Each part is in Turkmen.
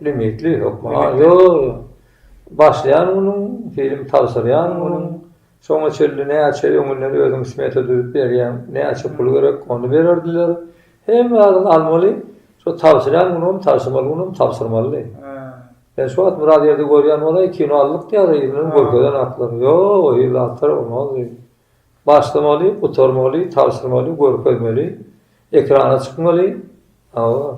Limitli hökman. Ha, ýo, ýo. Başlaýan günüň, film tabşyrýan günüň, şoňa çenli näçe öňünden özüň smeta düzüp berýäň, näçe pul gerek, ony bererdiler. Hemme zadyň almaly, şo tabşyrýan günüňem, tabşyrmaly günüňem tabşyrmalydy. Sen şu wagt biraz ýerde görýän bolaý, kino aldyk diýýär, yzyndan görkezen atlary. Ýo-o, yzly atlar bolmaz diýip. Başlamaly, gutarmaly, tabşyrmaly, görkezmeli, ekrana çykmaly. Hawa.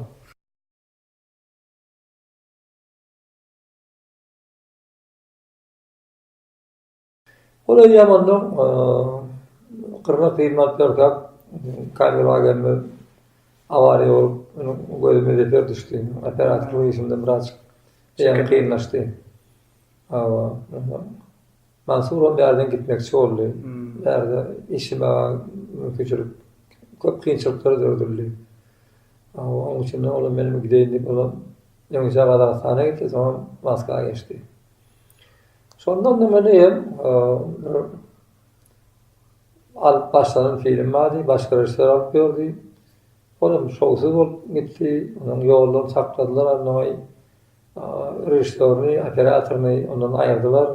Olar ýamandan gyrna syrmap ýörkäk kabel wagenimiz awariýa bolup, gözüme zeper düşdi. Operatorlyk işimde biraz çeken kynlaşdy. Hawa. Mansuram bärden gitmekçi boldy. Bärde işime mümkinçilik köp kynçylyklar döredildi. Hawa, onuň üçin olam menem gideýin diýip, olam öň Gazagystana gitdi, soňam Moskwa geçdi. Şondan da meni hem alyp başlanan film bardy, başga režissýor alyp ýördi. Ol hem şowsuz bolup gitdi. Onuň ýoldan sakladylar, annaoý režissýoryny, operatoryny ondan aýyrdylar.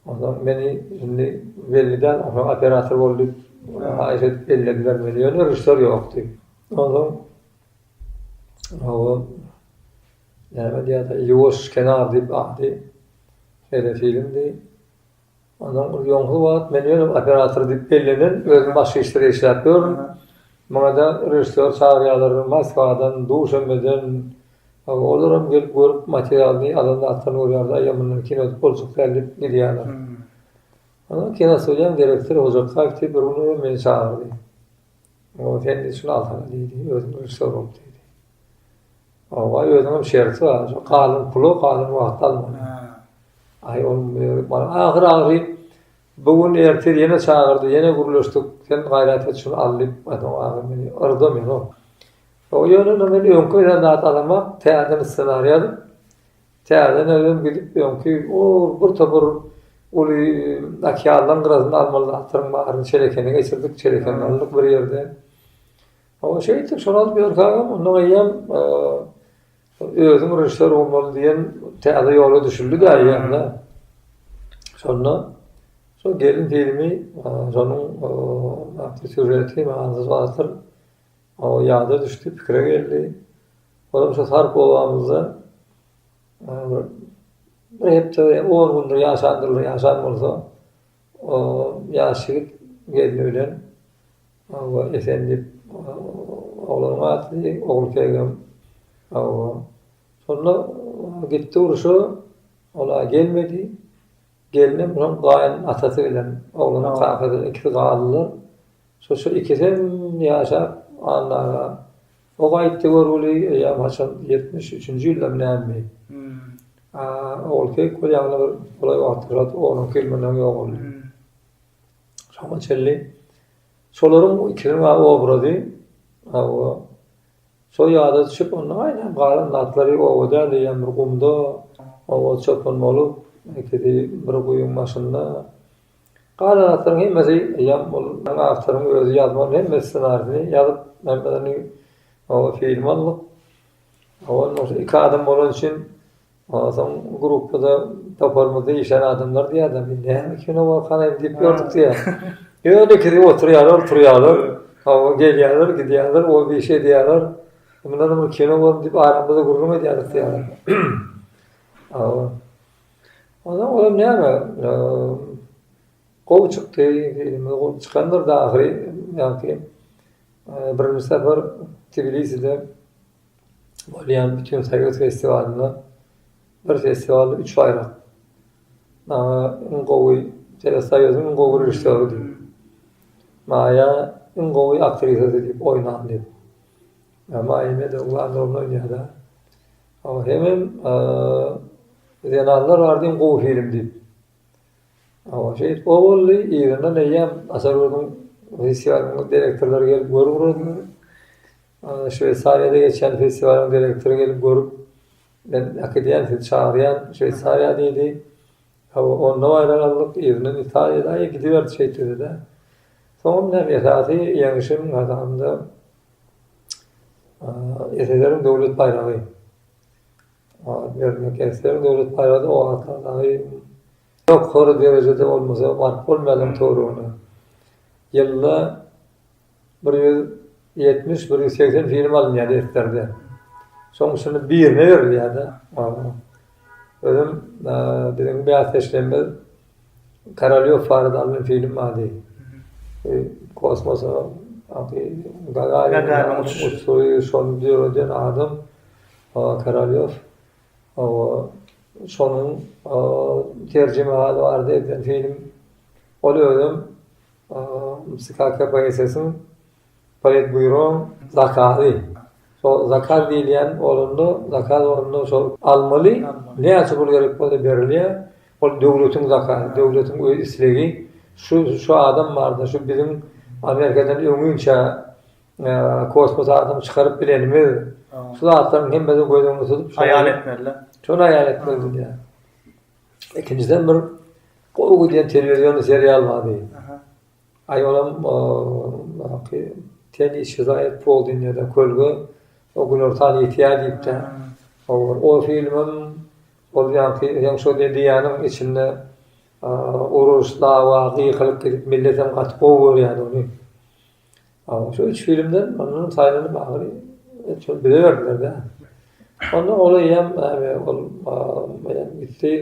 Onda meni indi belli däl, onsoň operator bol diýip, haýyş edip bellediler meni, ýöne režissýor ýokdy. Onsoň Näme diýýärdi, Ýuwaş kenar diýip ady. Şeýle filmdi. Ondan ýoňky wagt men ýöne operator diýip bellenen, özüm başga işlere işläp ýörün. Maňa-da režissýor çagyrýarlar Moskwadan, Duşenbeden. Olaram gelip görüp materialyny, alan zatlaryny görýärler, aý ýa mundan kino edip boljak däl diýip gidýärler. Onsoň kinostudiýanyň direktory Hojabkaýew diýip bir gün meni çagyrdy. Sen şuny alsaňa diýdi, özüň režissýor bolup diýdi. Oba özüňem şerti bar. Şu galan pulu galan wagtda almaly. Aý ol bar. Ahyr ahyr bu gün ertir ýene çagyrdy, ýene gürleşdik. Sen gaýrat et şuny al diýip, adam ahyr meni yrda meni ol. O ýöne indi men öňki bilen zat alamak, täzeden ssenariý ýazyp, täzeden özüm gidip öňki o bir topar uly okeanlaryň gyrasynda almaly zatlaryň baryny çelekene geçirdik, çelekeni aldyk bir ýerde. Hawa şeýtdi, şony alyp ýörkäňem, ondan eýýäm özüň režissýor bolmaly diýen täze ýola düşüldi-de eýýäm-de. Şonda şol gelin filmi, şonuň atly sýužeti manysyz zatdyr. O ýada düşdi, pikire geldi. Olam şo Sarp obamyzda bir hepde, on gündir ýaşandyr, ýaşan bolsa, ýaş ýigit gelni bilen Hawa, Esen diýip, oglanyň adydy, Ogulkegem. Hawa. Şonda gitdi urşa, ol-a gelmedi. Gelnem şoň gaýyn atasy bilen oglanyň kakasy bilen ikisi galdylar. Şu-şu ikisi hem ýaşap, Anna aga o gaýtdy görgüli, eýýäm haçan ýetmiş üçünji ýyldamy nämemi. A Ogulkek bolýa ýaňyly bir golaý wagtda ýogaldy, onuňky ýyl mundan öň ýogaldy. Şoňa çenli şolaryň bu ikiniň a obrazy hawa şo ýada düşüp onda gaýnap galan zatlary oba däl eýýäm bir gumda oba çopan bolup ekidi bir guýyň başynda galan zatlaryň hemmesi eýýäm ol awtoryň özi ýazman hemme ssenarisini ýazyp hemmelerini oba film aldyk oba onda iki adam bolan üçin Ondan soň gruppada toparymyzda işlän adamlar diýýärler, Biz näme kino bar garaýyn diýip ýördük diýýär. Ýöne ikisi oturýarlar, turýarlar, hawa gelýärler, gidýärler, ol bir iş edýärler. Munda-da bir kino bar diýip aramyzda gürrüň edýärdik diýýärler. Hawa. Onsoň olam näme, gowy çykdy, filmimiz gowy çykandyr-da ahyry. Ýagny, birinji sapar Tbiliside bolýan bütin soýuz festiwalynda bir festiwalda üç baýrak maňa iň gowy telesoýuzyň iň gowy režissýory diýip maýa iň gowy aktrisa diýip oýnan diýip maýa medowa rol oýnaýarda o hemem zenanlar barada iň gowy film diýip o şeýt o boldy yzyndan eýýäm aşa gördüm festiwalyň direktorlary gelip görüp Şweýsariýada geçýän festiwalyň direktory gelip görüp, Men äkidýän, sizi çagyrýan Şweýsariýa diýdi. Hawa, onda baýrak aldyk, yzyndan Italiýa-daýy gidiberdi şeýtdi-de. Soňam näme, esasy ýeňişim gazananda SSR-iň Döwlet baýragy alyp bermek. SSR-iň Döwlet baýragy-da o wagtlar dagy ýokary derejede bolmasa, baryp bolmaýardy töweregine. Ýylda Bir ýüz ýetmiş, bir ýüz segsen film alynýar defterde. Şoň üçin birine berilýär-de. Özüm biziň bäsdeşlerimiz Korolýow barada alnan film bardy. Kosmosa Gagarin uçuşy şony döreden adam Korolýow. Şonuň terjimehaly bardy edilen film. Ol özüm KKPSS-iň Politbýuro zakazy. Şol zakaz diýilýän bolanda, zakaz bolanda şol almaly, näçe pul gerek bolsa berilýär. Ol döwletiň zakazy, döwletiň öz islegi. Şu, şu adam barda, şu biziň Amerikadan öňinçä kosmosa adam çykaryp bilenimiz. Şu zatlaryň hemmesini göz öňünde tutup, şony haýal etmeliler. Şony haýal etmelidirler. Ikinjiden bir gowy gidýän telewizion serial bardy. Aý olam ki ten işi zaýat boldy ýa-da kölge o günortan ýetýär diýipdi. O filmem ol ýaňky ýa şo diýýäniň içinde uruş, dawa, gykylyk gidip milletem gaty gowy görýärdi ony. Aga şu üç filmden ondan saýlanyp ahyry şol bize berdiler-de. Onda ol eýýäm äbe ol eýýäm gitdi.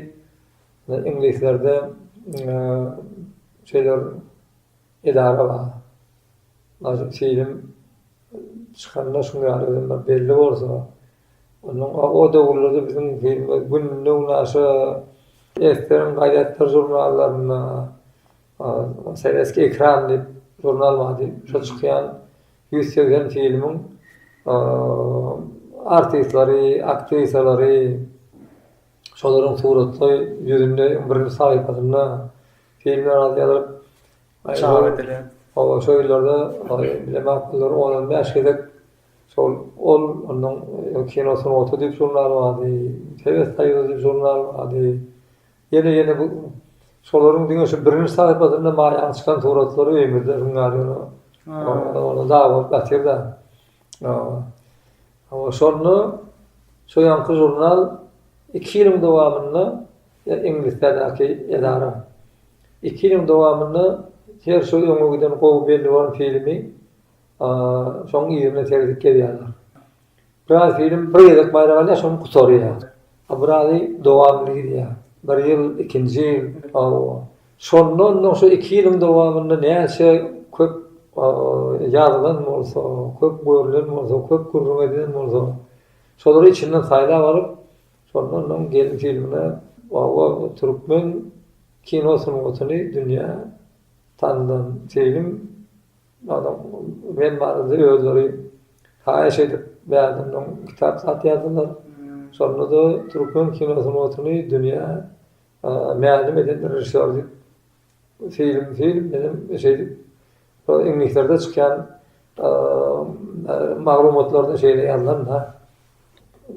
Iňlislerde şeýler edara bar. Aýdyň film çykanda şuňa ýaly belli bolsa. Onda o döwürlerde biziň filmler günde-gün aşa esseň gazetde, žurnallarynda Sowetskiý ekran diýip žurnal bardy. Şo çykýan ýüz segsen filmiň artistleri, aktrisalary, şolaryň suratly ýüzünde iň birinji sahypasynda filmler az ýazylyp çap edilýär. Hawa, şo ýyllarda bilemek bolar, on-on bäş gezek şol ol onuň kino sungaty diýip žurnal bardy, Sowet Soýuzy diýip žurnal bardy. Ýene ýene bu şolaryň diňe şu birinji sahypasynda maýaň çykan suratlary öýümizde öň ýaly ýöne ony dag bolup ýatyr da. Hawa şonda şu ýanky žurnal iki ýylyň dowamynda Iňlisdäki edara iki ýylyň dowamynda her şu öňe giden gowy belli bolan filmi şoň yzyna seredip gelýärler. Biraz film bir gezek baýrak alýar soň gutarýar. A birazý dowamly gidýär. Bir ýyl, ikinji ýyl, hawa. Şondan soň şu iki ýylyň dowamynda näçe köp ýazylan bolsa, köp görlen bolsa, köp gürrüň edilen bolsa, şolary içinden saýlap alyp, şondan soň gelin filmine hawa türkmen kino sungatyny dünýä tandan film. Adam men barada özleri haýyş edip bärdimden kitap satýardylar. Şonda-da türkmen kino sungatyny dünýä mälim eden režissýor diýip film film bilen şeýdip iňlislerde çykýan maglumatlarda şeýle ýazylan-da.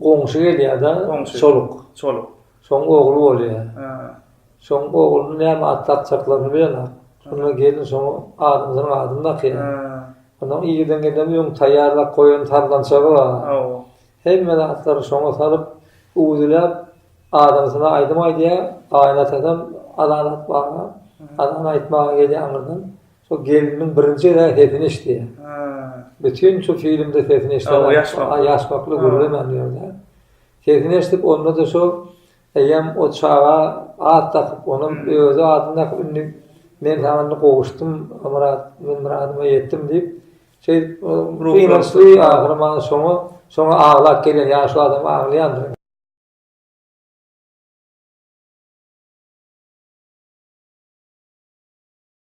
Goňşy gelýär-de, Çoluk. Çoluk. Şoň ogly bolýar. Şoň ogluny näme at dakjaklaryny bilenok. Şonda gelin şoň adamsynyň adyny dakýar. Onuň irden gelen öň taýýarlap goýan sazlançagy bar. Hemme zatlary şoňa salyp, uwzüläp, adamsyna aýdym aýdýar. Gaýynatasam azan atmaga, azan aýtmaga gelýän gyzam Şo geliniň birinji gezek sesini eşitýär. Bütin şo filmde sesini eşidýär. O ýaş wagtlar. Ýaş wagtlar gürlemändi ýöne. Sesini eşidip onda-da şo eýýäm o çaga at dakyp, onuň özi adyny dakyp indi men saňa indi gowuşdym Myrat, men myradyma ýetdim diýip, şeýdip gynançly ahyry maňa şoňa, şoňa aglap gelýän ýaşuly adam aglaýandyr.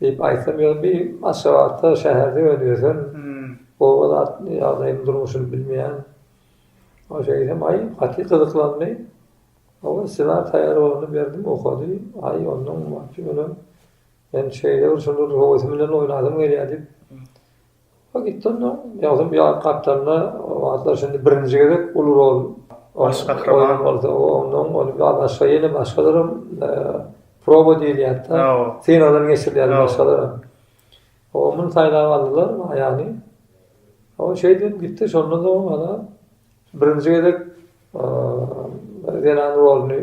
Diýip aýtsam ýöne bir Aşgabatda şäherde öýlenip ýörsem oba zat ýagdaýyny durmuşyny bilmeýän o şeýdem aý gaty gyzyklandy oba ssenari taýýar bolanda berdim okady aý ondan wapşe ýöne men şeýle bir şonda höwesim bilen oýnasym gelýär diýip Ol gitdi-de, ýaňsam ýa gapdalynda, o wagtlar şindi birinji gezek uly rol baş gahryman bolsa, onnoň ony ýa başga ýene başgalaram proba diýilýärdi-de, synagdan geçirilýärdi başgalaram. O muny saýlap aldylar, Maýany. Ol şeýdip hem gitdi, şondan soň ol-a birinji gezek zenan roluny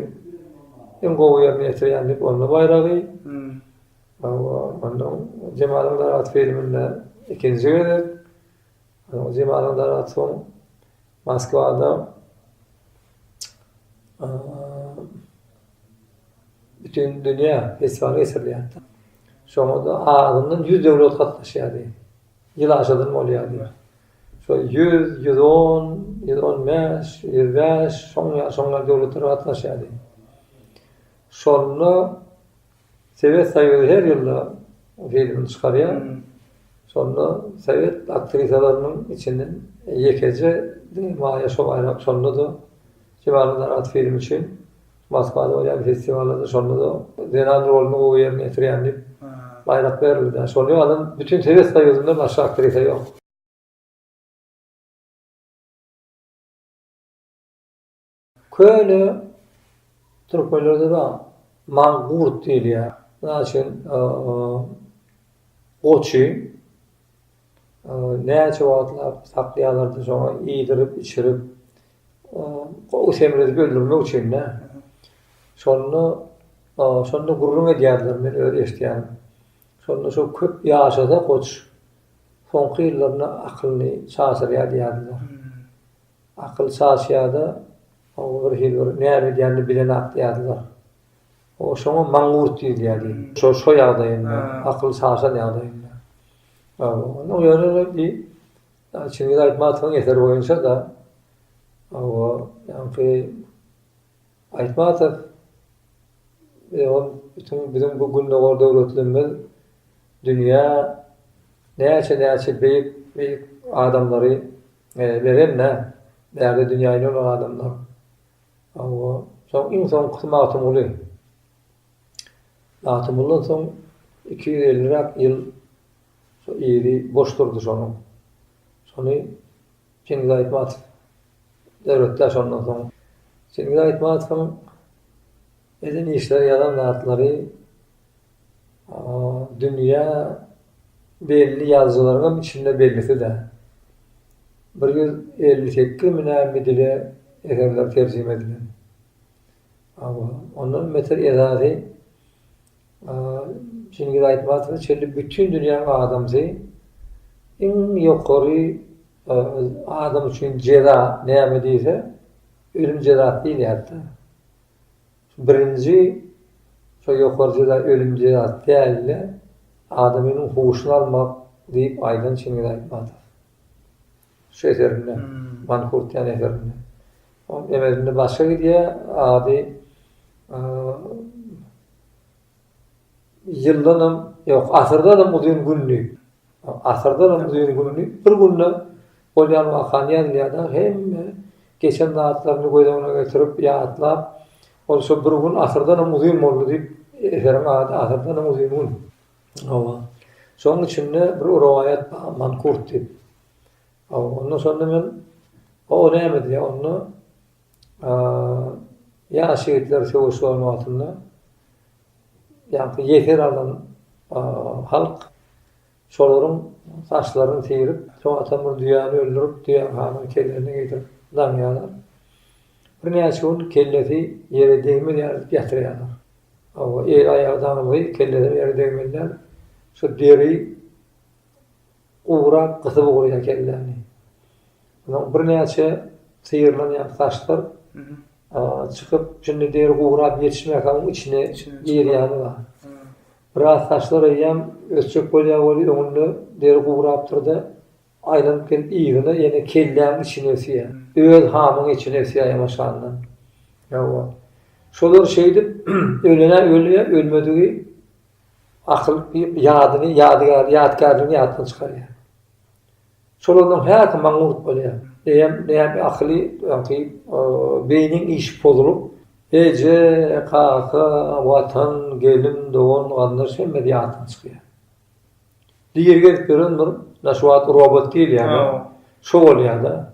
iň gowy ýerine ýetirýän diýip onda baýragy, Hawa, onda Jemalyň daraty filminde ikinji gezek Jemalyň daraty soň Moskwada bütin dünýä festiwaly geçirilýärdi. Şoňa-da azyndan ýüz döwlet gatnaşýardy. Ýyl aşadan bolýardy. Şol ýüz, ýüz on, ýüz on bäş, ýüz bäş, şoň ýaly, şoň ýaly döwletler gatnaşýardy. Şonda Sowet Soýuzy her ýylda filmini çykarýar. Şonda sowet aktrisalarynyň içinden ýekeje diňe Maýa şo baýrak şonda-da Kemala narahat filmi üçin Moskwada bolýan festiwallarda şonda-da zenan roluny gowy ýerine ýetirýän diýip baýrak berildi-dä. Şony alan bütin Sowet Soýuzynda başga aktrisa ýok. Köne türkmenlerde bar. Mangurt diýilýär. Mysal üçin, goçy näçe wagtlap saklaýarlardy, soňra iýdirip, içirip, gowy semredip öldürmek üçin-dä. Şonda, şonda gürrüň edýärdiler, men özi eşidýän. Şonda şo köp ýaşasa goç, soňky ýyllarynda akylyny çaşyrýar diýýärdiler. Akyl çaşýar-da, oňa birhili bir näme edýänini bilenak diýýärdiler. O şoňa maňňurt diýilýärdi. Şo-şo ýagdaýynda, akyl çaşan ýagdaýynda. Onuň ýöne bi Çingiz Aýtmatowyň eseri boýunça-da, hawa, ýaňky Aýtmatow ol bütin biziň bu Gündogar döwletlerimiz dünýä näçe-näçe beýik-beýik adamlary Beren nä? Bärde dünýä ýüregek adamlar. Hawa, soň iň soňkysy Magtymguly. Magtymguldan soň iki ýüz elliräk ýyl şo ýeri boş durdy şonuň. Şony Çingiz Aýtmatow döretdi-ä şondan soň. Çingiz Aýtmatowyň eden işleri, ýazan zatlary Dünýä belli ýazyjylaryňam içinde bellisi-dä. Bir ýüz elli sekizmi näme dile eserleri terjime edilen. Hawa, ondan beter esasy Çingiz Aýtmatowa çenli bütin dünýäň adamsy iň ýokary adam üçin jeza näme diýse, ölüm jezasy diýilýärdi-dä. Şu birinji şo ýokary jeza ölüm jezasy dälde adamynyň huşuny almak diýip aýdan Çingiz Aýtmatow. Şu eserinde Mankurtian eserinde. Ol emelinde başga gidýär ady Ýyldanam, ýok, asyrdanam uzyn günli, asyrdanam uzyn günli, bir günde bolýan wakany ýazylýar-da, hemme geçen zatlaryny göz öňüne getirip, ýatlap, ol şo bir gün asyrdanam uzyn boldy diýip, eseriň ady Asyrdanam uzyn gün. Hawa. Şonuň içinde bir rowaýat bar, Mankurt diýip. Hawa, onda şonda men, o näme diýýär onda, ýaş ýigitler söweş zolagatynda, Ýaňky ýesir alan halk şolaryň saçlaryny syrýyp, soň Atamyr düýäni öldürip, düýäň hanyň kellesini getirip daňýarlar. Birnäçe gün kellesi ýere degmeýär diýip ýatyrýarlar. Hawa, el-aýagy daňylgy, kelleler ýere degmänler. Şu deri Gowurak gysyp ugraýar kelläni. Onuň birnäçe syýrylan ýaly saçlar çykyp, şindi deri gowurak ýetişmäkä oň içine girýäni bar. Biraz saçlar eýýäm ösjek bolýar weli, öňünde deri gowurapdyr-da, aýlanyp gelip yzyna ýene kelläň içine ösýär. Öz hamyň içine ösýär ýaňaşandan. Hawa. Şolar şeýdip, ölenä ölýär, ölmedigi Akyl ýadyny, ýadygäri, ýadkärligini ýatdan çykarýar. Şolaryň häsi maňňurt bolýar. Eýýäm näme akyly öňki beýniň işi pozulyp, eje, kaka, watan, gelin, dogan, garyndaş hemmesi ýatdan çykýar. Diri gezip ýören bir mundan şu wagt robot diýil ýa-da şo bolýar-da.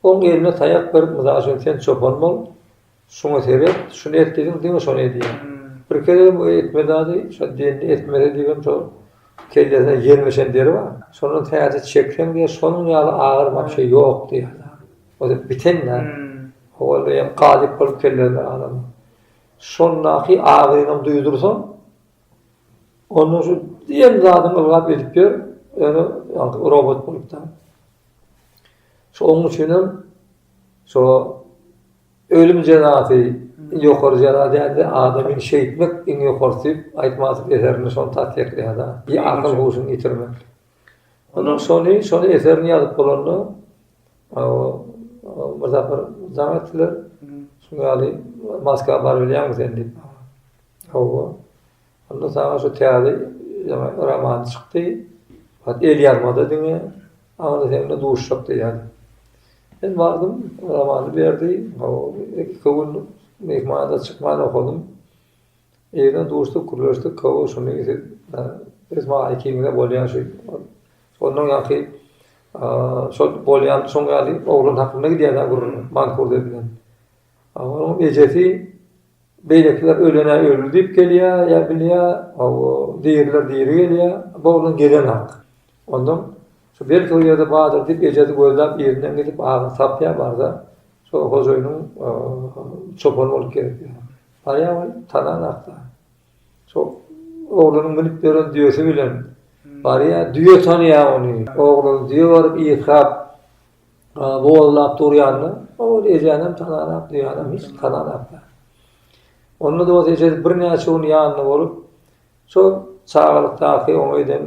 Oň eline taýak berip, mysal üçin sen çopan bol, Şuňa seret, şuny et diýdiň, diňe şony edýär. Bir gezegem o etme zady, şo dende etmeli diýibem şo kellesine ýermeşen deri bar. Şondan täze çekseň diýýär, şonuň ýaly agyr wapşe ýok diýýär zat. Ozal biten zat. Owalda hem galyp bolup kellerler adamyň. Şondaky agyryňam duýdursaň, ondan şu diýen zadyňy ylgap edip ýör, ýöne ýaňky robot bolupdyr. Şo oň üçinem Şo ölüm jezasy ýokary jeza däldi, adamy şeýtmek iň ýokarysy diýip Aýtmatow eserinde şony tassyklaýarda, bir akyl huşuny ýitirmek. Onda şony, şony eserini ýazyp bolanda bir sapar jaň etdiler. Şu ýaly Moskwa barybilýäňmi sen diýip maňa. Hawa. Onda saňa şu täze ýaňy roman çykdy. Hat el ýazmada diňe aňry sen bilen duşjak diýýärdi. Men bardym, romany berdi. Iki gün myhmanada çykman okadym. Ýerden duşduk, gürleşdik. Hawa, şuny siz öz maýa ikiňize bolýar şu. Ondan ýaňky şol bolýan şoň ýaly oglan hakynda gidýär-ä gürrüň, Mansur diýlen. Onuň ejesi beýlekiler ölene öldi diýip gelýär, ýa bilýär, hawa, diriler diri gelýär, bu oglan gelenok. Ondan şu belki o ýerde bardyr diýip ejesi gözläp yzyndan gidip agyny tapýar barsa, şo hojaýynyň çopany bolup gelip ýör. Barýar ol tananok-da. Şo oglanyň münüp ýören düýesi bilen barýar, düýe tanýar ony. Oglan düýe baryp ýykrap, Gollap durýandyr. Ol ejänem tananok, düýänem hiç tananok. Onda dost eje birnäçe gün ýanynda bolup, şol çagalykdaky oňa eden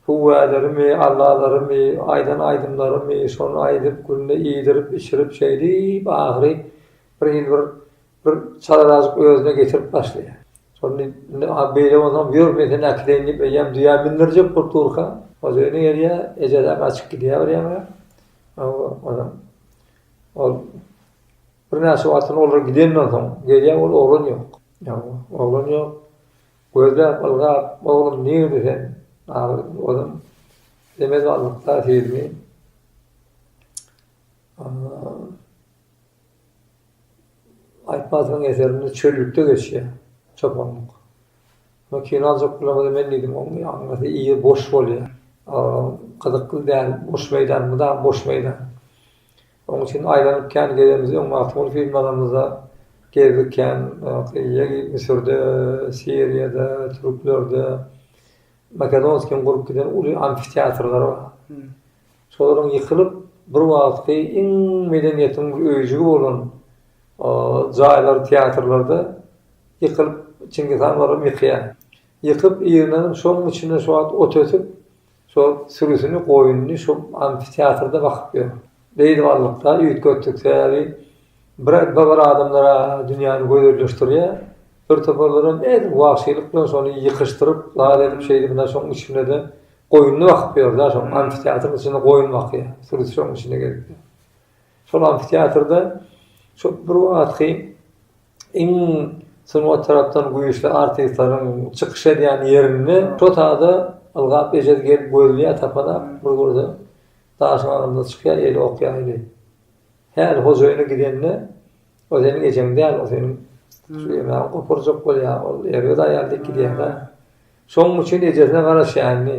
hüwwälerimi, allalarymy, aýdan aýdymlarymy, şony aýdyp, günde iýdirip, içirip şeýdip, ahyry bir il bir Bir çalarazjyk özüne getirip başlaýar. Şonda indi a beýle bolsam ýör men seni äkideýin diýip eýýäm düýä mündirjek bolup durka, ol öýüne gelýär, eje-de gaçyp gidýär bir ýaňa. Hawa, onam ol birnäçe wagtdan olar gidenden soň gelýär, ol oglan ýok. Hawa, oglan ýok. Gözläp, ylgap, oglum nirde sen? Ahyry onam demez wagtda sizmi? Aýtmazowyň eserinde çöllükde geçýär çopanlyk. Muny kino aljak bolamyza men diýdim, oň ýanyndaky ýer boş bolýar. Gyzykly däl, boş meýdan, mydama boş meýdan. Oň üçin aýlanyp kän gezemizdi. Öň Magtymguly filmi alanymyzda gezdik kän. Müsürde, Siriýada, türklerde, Makedonskiň gurup giden uly amfiteatrlary bar. Şolaryň ýykylyp, bir wagtky iň medeniýetiň öýjügi bolan jaýlary, teatrlarda ýykylyp, Çingiz han olaram ýykýar. Ýykyp, ýygnanyp, şoň içinde şu wagt ot ösüp, şo sürüsini, goýnuny şo amfiteatrda bakyp ýör. Beýdip aldyk-da, üýtgetdik. Sebäbi bir-ä bir adamlar-a dünýäni gözelleşdirýär, birtopar olaram edil wagşylyk bilen şony ýykyşdyryp, zat edip, şeýdip, ine, şoň içinde-de Goýnuny bakyp ýör-de, şoň amfiteatryň içinde goýun bakýar. Sürüsi şoň içinde gezip ýör. Şol amfiteatrda şo bir wagtky iň sungat tarapdan güýçli artistleriň çykyş edýän ýerinde şo sada ylgap ejesi gelip gözleýär, tapalap, bir görse, daşyň aňyrynda çykýar, eli ok ýaýly. Häli hojaýyna gidende. O seniň ejeň däl, o seniň Süleýmany gopurjak bolýan ol erbet aýal dik gidýär-dä. Şonuň üçin ejesine garaşýandy.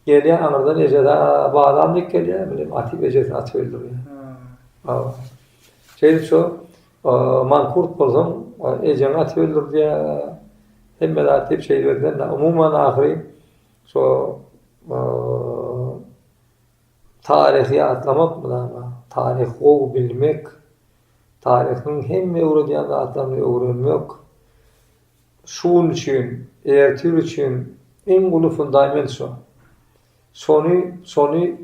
Gelýär aňyrdan ejesä balam dik gelýär, bilim atyp ejesini atyp öldürýär. Hawa. Şeýdip şo mankurt bolsaň, ejeňi atyp öldürdýär. Hemme zat diýip şeýdibediler-dä. Umuman ahyry şo Taryhy ýatlamak mydama, taryhy gowy bilmek, taryhyň hemme öwredýän zatlaryny öwrenmek şu gün üçin, erti gün üçin iň uly fundament şo. Şony, şony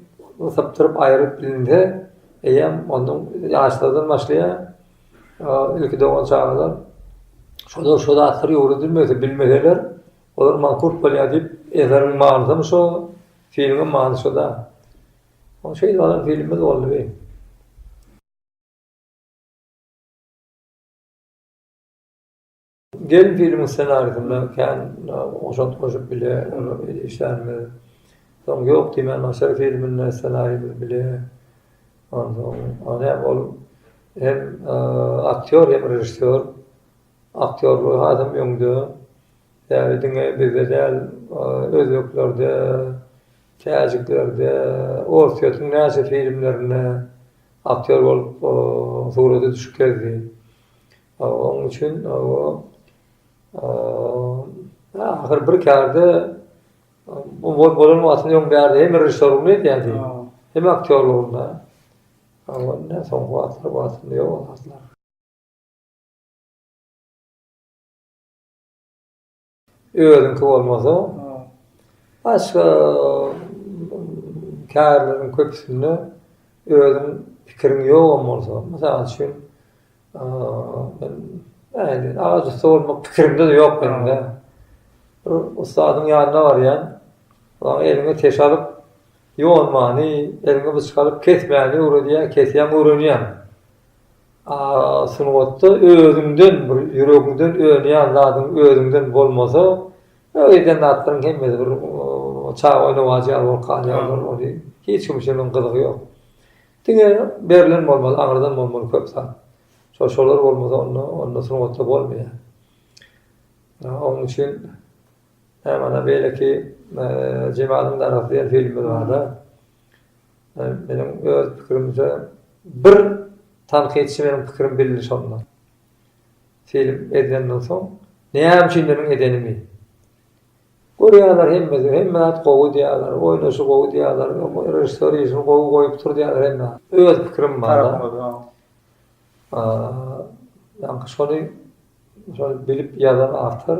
sypdyryp aýryp bilinse, eýýäm ondan ýaşlardan başlaýar, ilki dogan çagalar. Şolar şu zatlar öwredilmese, bilmeseler, olar mankurt bolýar diýip, eseriň manysy hem şo, Filmiň many şuda. Ol şeýle bolan filmimiz boldy bi. Gelin filmiň ssenarisinde kän goşant goşup bile işlänimiz. Soň Ýok diýmän başar filminde ssenarimiz bile. Onsoň ony hem ol hem aktýor hem režissýor Aktýorlygy hasam öňde. Ýagny diňe bizde däl, özbeklerde, täjiklerde, Orsýetiň näçe filmlerinde aktýor bolup surata düşüp gezdi. Onuň üçin ahyr bir kärde bu bolan wagtynda öň bärde hem režissýorlygyny edýärdi, hem aktýorlygyny. Indi soňky wagtlary ýok zatlar. Özüňki bolmasa, başga kärleriň köpüsinde özüň pikiriň ýogam bolsa, mysal üçin, men agaç ussy bolmak pikirimde-de ýok meniň-ä. Bir ussadyň ýanyna barýan, oňa eliňe teş alyp, ýonmany, eliňe byçak alyp kesmäni öwredýär, kesýäň, öwrenýäň. A sungatda özüňden bir ýüregiňden önýän zadyň özüňden bolmasa, ol eden zatlaryň hemmesi bir çaga oýnawajy ýaly bolup galýarlar, ony hiç kim üçin onuň gyzygy ýok. Diňe berlen bolmaly, aňyrdan bolmaly köp zat. Şo şolar bolmasa onda onda sungatda bolmaýar. Onuň üçin näme ana beýleki Jemalyň darasy diýen filmler barda. Meniň öz pikirimçe bir tankytçy meniň pikirim bildi şonda. Film edilenden soň näme üçin meniň edenimi. Görýärler hemmesi hemme zat gowy diýýärler, oýnaşy gowy diýýärler, režissýor işini gowy goýupdyr diýýärler hemme. Öz pikirim barda. Ýa-da şony şony bilip ýazan awtor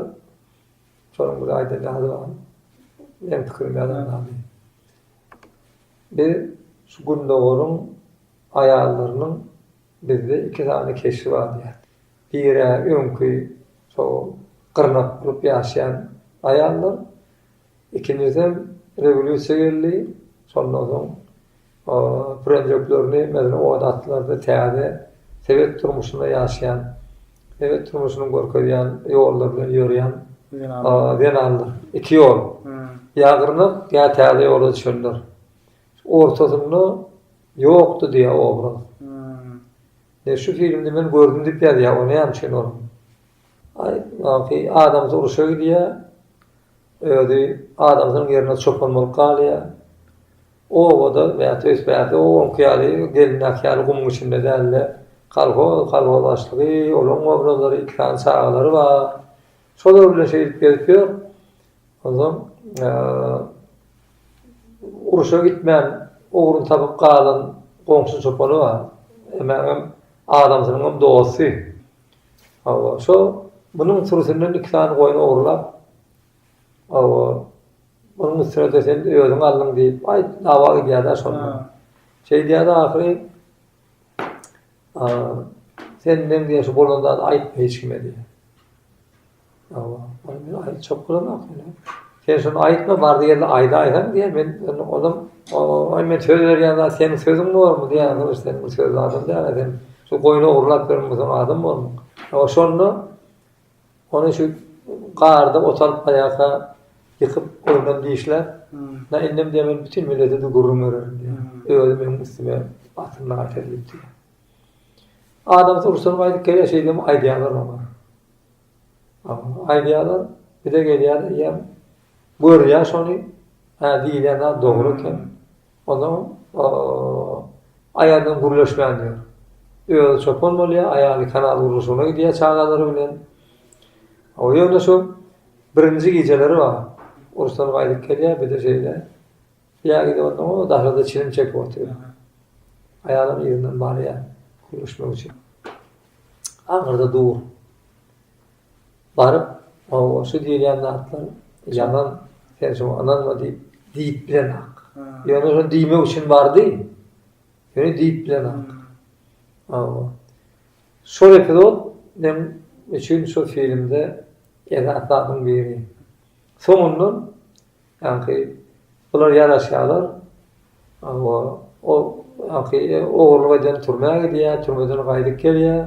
Şonuň bir aýdan zady bar. Meň pikirim ýazan zady. Biz şu Gündogaryň aýallarynyň bizde iki sany keşbi bar diýýär. Biri-ä öňki şo gyrnak bolup ýaşaýan aýallar. Ikinjisem rewolýusiýa geldi. Şondan soň Prendjoklerini mezre ot atlardy täze sebet durmuşynda ýaşaýan sebet durmuşynyň görkezýän ýollary bilen ýörýän zenanlar iki ýol ýa gyrnak ýa täze ýola düşenler ortasynda ýokdy diýýär obraz ne şu filmde men gördüm diýip ýazýar o näme üçin ol aý adamsy uruşa gidýär özi adamsynyň ýerine çopan bolup galýar Obada bäti öýs bärde o oňki ýaly gelindäki ýaly gumuň içinde dälde kolhoz kolhoz başlygy olaň obrazlary iki sany çagalary bar şolar bilen şeýdip gezip ýör onsoň uruşa gitmän ugruny tapyp galan goňşy çopany bar emäňem adamsynyňam dosty hawa şo munuň sürüsinden iki sany goýun ogrulap Hawa, muny Müsürede sen özüň aldyň diýip, aýt, dawa gidýär-dä şonda. Şeýdýär ahyry, Sen meň diýen şu bolan zady aýtma hiç kime diýýär. Hawa, ony men aýtjak bolamok indi. Sen şony aýtma, bardy ýerde aýdaýsaň diýýär, men indi onam, Aý, men söz berýän zat seniň sözüň bormy diýýär, ýa sen bu söz adam däl-ä, sen şu goýny ogurlap berenmi, sen adam bolma. Hawa, şonda. Ony şu garda otalyp aýasa ýykyp ondan dişläp, Na indem diýýär, men bütin millete-de gürrüň bererin diýýär. Özi meniň üstüme batyr naçe diýip diýýär. Adam sursan gaýdyp gelýär, şeýdibem aýdýarlar oňa. Aýdýarlar, bir-de gelýär diýýär, görýär şony, hä diýilýän zat dogry eken. Onuň aýalynam gürleşmän ýör. Özi çopan bolýar, aýaly kanal gurluşygyna gidýär çagalary bilen. Ýöne şu birinji gijeleri bar. Urusdan gaýdyp gelýär, bir-de şeýle ýa gidip ondan o daşarda çilim çekip otyr. Aýalam yzyndan barýar gürleşmek üçin. Aňyrda dur. Baryp, Hawa, şu diýilýän zatlar ýalan, sen şoňa ynanma diýip, diýip bilenok. Ýöne şony diýmek üçin bardy. Ýöne diýip bilenok. Hawa. Şol epizod men üçin şu filmde esas zadyň biri. Soňundan Ýaňky bular ýaraşýarlar. Hawa, ol ýaňky ogurlyk eden türmä gidýär, türmeden gaýdyp gelýär.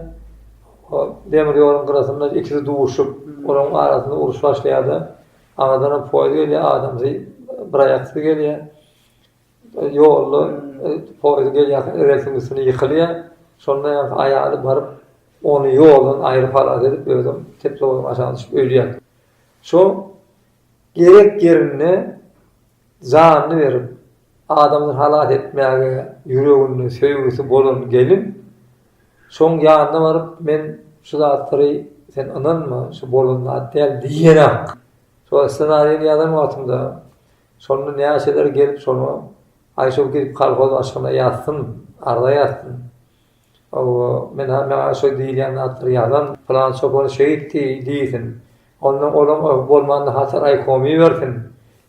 O demir ýoluň gyrasynda ikisi duşup, olaryň arasynda uruş başlaýar-da, aradanam poýiz gelýär, adamsy, biraýaksyz gelýär. Ýolda poýiz gelýärkä relsiň üstüne ýykylýar. Şonda ýaňky aýaly baryp, ony ýoldan aýryp halas edip, özem teplowozdan aşak düşüp ölýär. Şo Gerek ýerinde janyny berip, adamlary halas etmäge ýüreginde söýgüsi bolan gelin şoň ýanyna baryp, men şu zatlary, sen ynanma, şu bolan zat däl diýenem. Şol ssenariýany ýazan wagtymda, şonda näçeler gelip şony, aý şol gidip kolhoz başlygyna ýazsyn, arza ýazsyn. Hawa, men-ä maňa şo diýilýän zatlary ýazan pylan çopan şeýtdi diýsin. Onda olaň öh bolman nahasa raýkoma ibersin.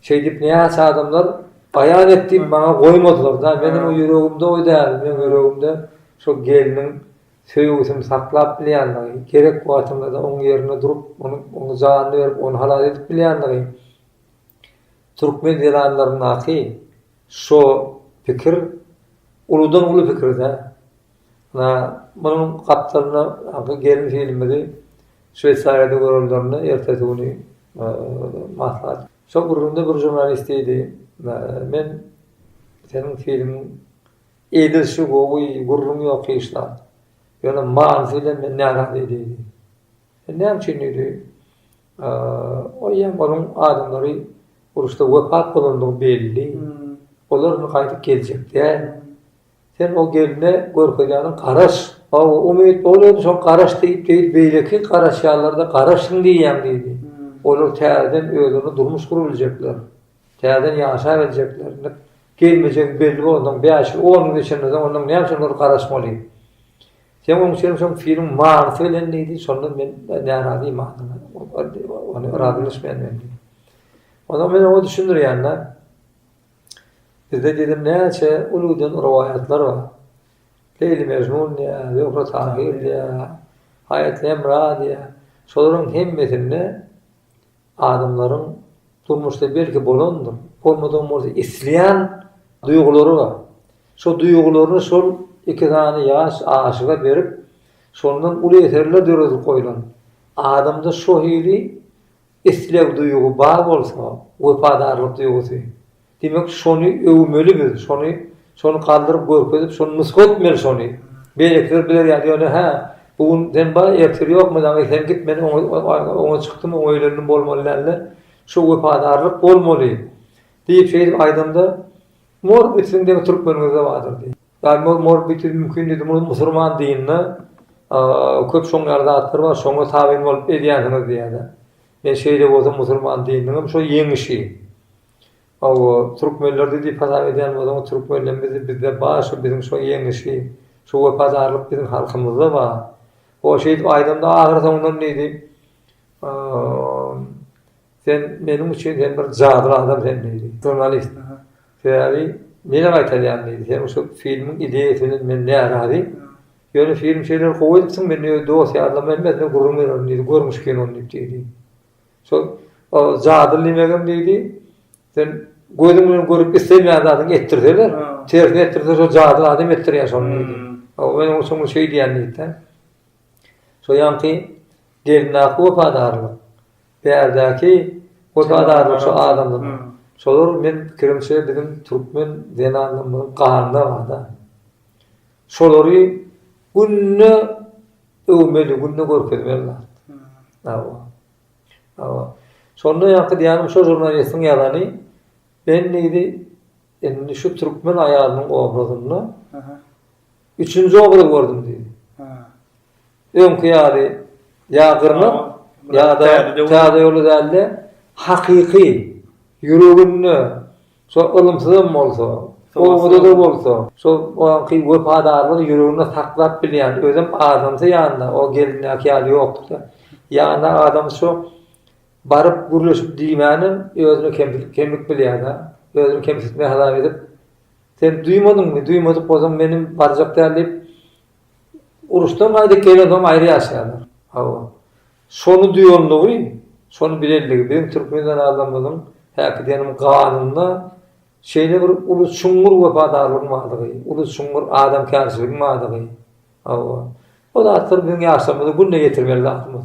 Şeýdip näçe adamlar baýan et diýip maňa goýmadylar-da. Meniň o ýüregimde o däl. Meniň ýüregimde şo gelniň söýgüsini saklap bilýändigi, gerek wagtynda-da oň ýerinde durup, ony janyny berip, ony halas edip bilýändigi Türkmen zenanlaryndaky şo pikir uludan uly pikirde. Ana, munuň gapdalynda aňky gelin filmimizi Şweýsariýada görenlerine ertesi güni maslahat. Şo gürrüňde bir žurnalist diýdi, Men seniň filmiň edilişi gowy, gürrüň ýok hiç zat. Ýöne manysy bilen men närazy diýdi. Sen näme üçin diýdi? O ýa onuň adamlary uruşda wepat bolandygy belli. Olar indi gaýdyp geljek däl. Sen o gelne görkezýäniň garaş. Hawa, umyt bolady, şoň garaş diýip, beýl beýleki garaşýanlar-da garaşsyn diýýän diýdi. Olar täzeden özlerine durmuş gurabiljekler. Täzeden ýaşap biljekler. Indi gelmejegi belli bolansoň, bäş ýyl, on ýyl geçenden soň onda näme üçin olar garaşmaly? Sen oň üçin şol filmiň manysy bilen diýdi, şondan men närazy manyna, ony razylaşmaýan men diýdi. Ondan men oňa düşündirýän-de, bizde diýdim näçe uludan rowaýatlar bar. Leýli Mejnun diýýär, Zöhre Tahir diýýär, Haýat Lemra diýýär. Şolaryň hemmesinde Adamlaryň durmuşda belki bolandyr, bolmadygam bolsa isleýän duýgulary bar. Şo duýgularyny şol iki sany ýaş aşyga berip, şondan uly eserler döredilip goýlan. Adamda şo hili isleg duýgy bar bolsa, wepadarlyk duýgusy. Diýmek şony öwmeli biz, şony şony galdyryp görkezip şony nusga etmeli şony. Beýlekiler biler ýaly ýöne hä, bu gün sen bar, ertiri ýokmydy aňy sen git men oňa çykdym oňa öýlendim bolmaly dälde, şu wepadarlyk bolmaly diýip şeýdip aýdanda mor bitsin deň türkmeniňizde bardyr diý. Ýa mor mor bitir mümkin diýdi muny musurman dininde köp şoň ýaly zatlar bar şoňa tabyn bolup edýänsiňiz diýýärler. Men şeýle bolsa musurman dininiň hem şo ýeňişi. Hawa, türkmenler-de diýip hasap edýän bolsaň, türkmenden bizi bizde bar şu biziň şu ýeňişi, şu wepadarlyk biziň halkymyzda bar. O şeýdip aýdanda ahyry soňundan diýdi, Sen meniň üçin sen bir jadyly adam sen diýdi. Žurnalist, Sebäbi nirä gaýtalýan diýdi. Seniň şu filmiň ideýasy bilen men närazy. Ýöne film şeýlelik gowy edipsiň, men öz dost-ýarlaryma hemmesine gürrüň bererin diýdi, görmüş kinony diýip diýdi. Şol jadyly nemegem diýdi, sen gözüň bilen görüp islemeýän zadyňy etdirseler, tersine etdirse şol jadyly adam etdirýär şony diýdi. Men oňa şoňa şeý diýýän diýdi-de. Şo ýaňky gelindäki wepadarlyk, bärdäki wepadarlyk şo adamlara. Şolar men pikirimçe biziň türkmen zenanlarymyzyň ganynda bar-da. Şolary günde öwmeli, günde görkezmeli zat. Hawa. Hawa. Şonda ýaňky diýýänim şo žurnalistiň ýazany, men diýdi, indi şu türkmen aýalynyň obrazynda üçünji obraz gördüm diýdi. Öňki ýaly ýa gyrnak, ýa-da täze ýoly däl-de, hakyky, ýüreginde Şol ylymsyzam bolsa, obada-da bolsa, şol oňki wepadarlygy ýüreginde saklap bilýän, özem adamsy ýanynda, o gelindäki ýaly ýokdur-da. Ýanynda adamsy şo baryp gürleşip diýmänem özüne kemsilik, kemlik bilýär-de. Özüni kemsitme hasap edip, Sen duýmadyňmy, duýmadyk bolsaň menem barjak däl diýip, uruşdan gaýdyp gelensoň aýry ýaşaýarlar. Hawa. Şony duýanlygy, şony bilenligi biziň türkmen zenanlarymyzyň häki diýenim ganynda şeýle bir uly çuňňur wepadarlygyň bardygy, uly çuňňur adamkärçiligiň bardygy, hawa, bu zatlar biziň ýaşlarymyza günde ýetirmeli zatymyz.